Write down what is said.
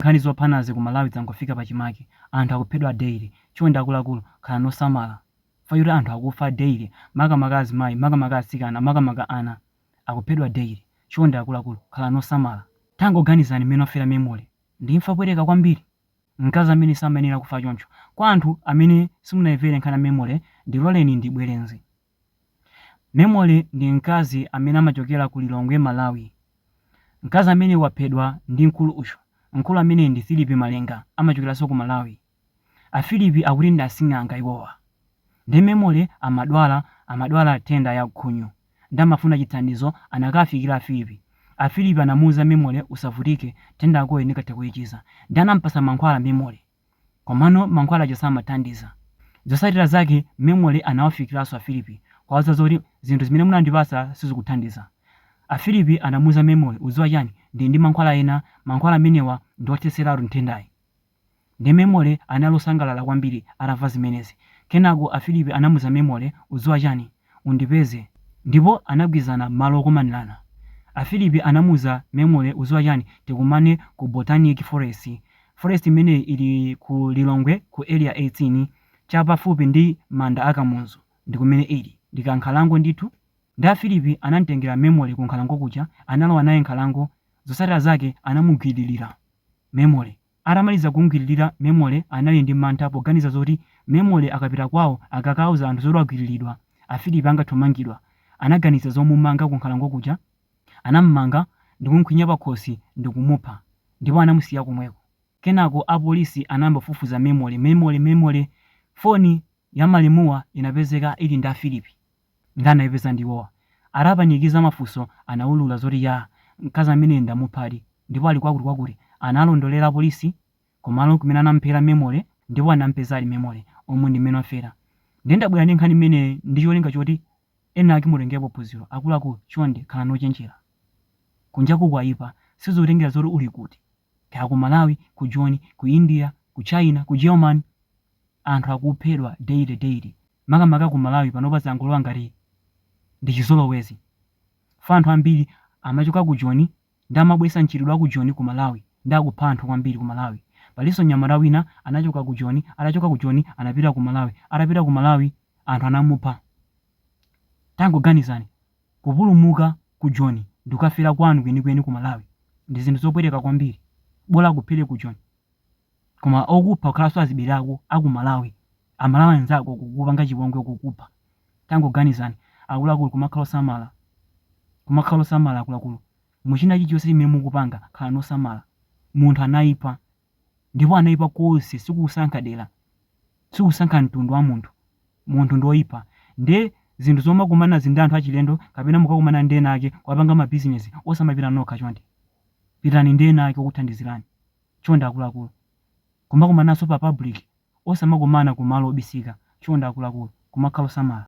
Nkhani zophanazi ku Malawi zangofika pachimake, anthu akuphedwa daily, chonde akuluakulu khalani osamala chifukwa choti anthu akufa daily makamaka azimayi makamaka atsikana makamaka ana akuphedwa daily, chonde akuluakulu khalani osamala. Tangoganizani mmene wafera Memory, ndi imfa yopweteka kwambiri, mkazi amene samayenera kufa choncho. Kwa anthu amene simunaimvere nkhani ya Memory ndiloleni ndibwereze Memory ndi mkazi amene amachokera ku Lilongwe Malawi. Mkazi amene waphedwa ndi mkulu uyu. Mkulu ameneyu ndi Phillip Malenga amachokeranso ku Malawi. A Phillip akuti ndi asing'anga iwowa. Nde Memory amadwala amadwala nthenda ya khunyu. Nde amafuna chithandizo anakafikira a Phillip. A Phillip anamuuza Memory usavutike nthenda yakoyi ndingathe kuichiza. Nde anampatsa mankhwala Memory. Komano mankhwala aja samathandiza. Zotsatira zake Memory anawafikiranso a Philip kuwauza zoti, Zinthu zimene munandipatsa sizikuthandiza. A Philip anamuuza Memory, Udziwa chani? Ndili ndi mankhwala ena, mankhwala amenewa ndi othetseratu nthendayi. Nde Memory anali osangalala kwambiri atamva zimenezi. Kenako a Philip anamuuza Memory, Udziwa chani? undipeze ndipo anagwirizana malo okomanirana a Philip anamuuza Memory uziwa chani tikumane ku botanic forest forest imeneyi ili ku lilongwe ku area 18 cha pafupi ndi manda a kamuzu ndikumene ili ndikankhalango ndithu nde a Philip anamtengera Memory ku nkhalango kuja analowa naye m'nkhalango zosatira zake anamugwiririra Memory Atamaliza kumgwiririra, Memory anali ndi mantha poganiza zoti Memory akapita kwawo akakauza anthu zoti wagwiriridwa, a Phillip angathe kumangidwa. Anaganiza zomumanga ku nkhalango kuja. Anam'manga ndikumkhwinya pakhosi ndikumupha ndipo anamusiya komweko. Kenako a polisi anayamba kufufuza Memory. Memory! Memory! Phone ya malemuwa inapezeka ili ndi a Phillip. Nde anaipeza ndiwowa. Atapanikiza mafunso anaulula zoti yaa mkazi ameneyu ndamuphadi ndipo ali kwakuti kwakuti. Analondolera apolisi kumalo kumene anamuphera Memory ndipo anampeza ali Memory umu ndi mmene wafera. Nde ndabwera ndi nkhani imeneyi ndi cholinga choti enake mutengerepo phunziro. Akuluakulu chonde khalani ochenjera. Kunjaku kwaipa sizotengera zoti uli kuti. Kaya ku Malawi, ku Joni, ku India, ku China, ku Germany anthu akuphedwa daily daily. makamaka ku Malawi panopa zangolowa ngati ndi chizolowezi chifukwa anthu ambiri amachoka ku Joni nde amabwesa mchitidwe wa ku Joni ku Malawi nde akupha anthu kwambiri ku Malawi. Palinso mnyamata wina anachoka ku Joni, atachoka ku Joni anapita ku Malawi, atapita ku Malawi anthu anamupha. Tangoganizani, kupulumuka ku Joni ndikukafera kwanu kwenikweni ku Malawi ndi zinthu zopweteka kwambiri. Bola akuphere ku Joni. Koma okupha kukhalanso azibale ako akumalawi amalawi anzako kukupanga chipongwe kukupha tangoganizani akuluakulu kumakhala osamala kumakhala osamala akuluakulu muchina chilichonse chimene mukupanga khalani osamala munthu anaipa ndipo anaipa konse sikusankha dera sikusankha mtundu wamunthu munthu ndioipa nde zinthu zomakumanazi ndi anthu achilendo kapena mukakumana ndi ena ake kuwapanga mabizinezi osamapita nokha chonde pitani ndi ena ake okuthandizirani. Chonde akuluakulu, kumakumananso pa public osamakumana ku malo obisika. Chonde akuluakulu, kumakhala osamala.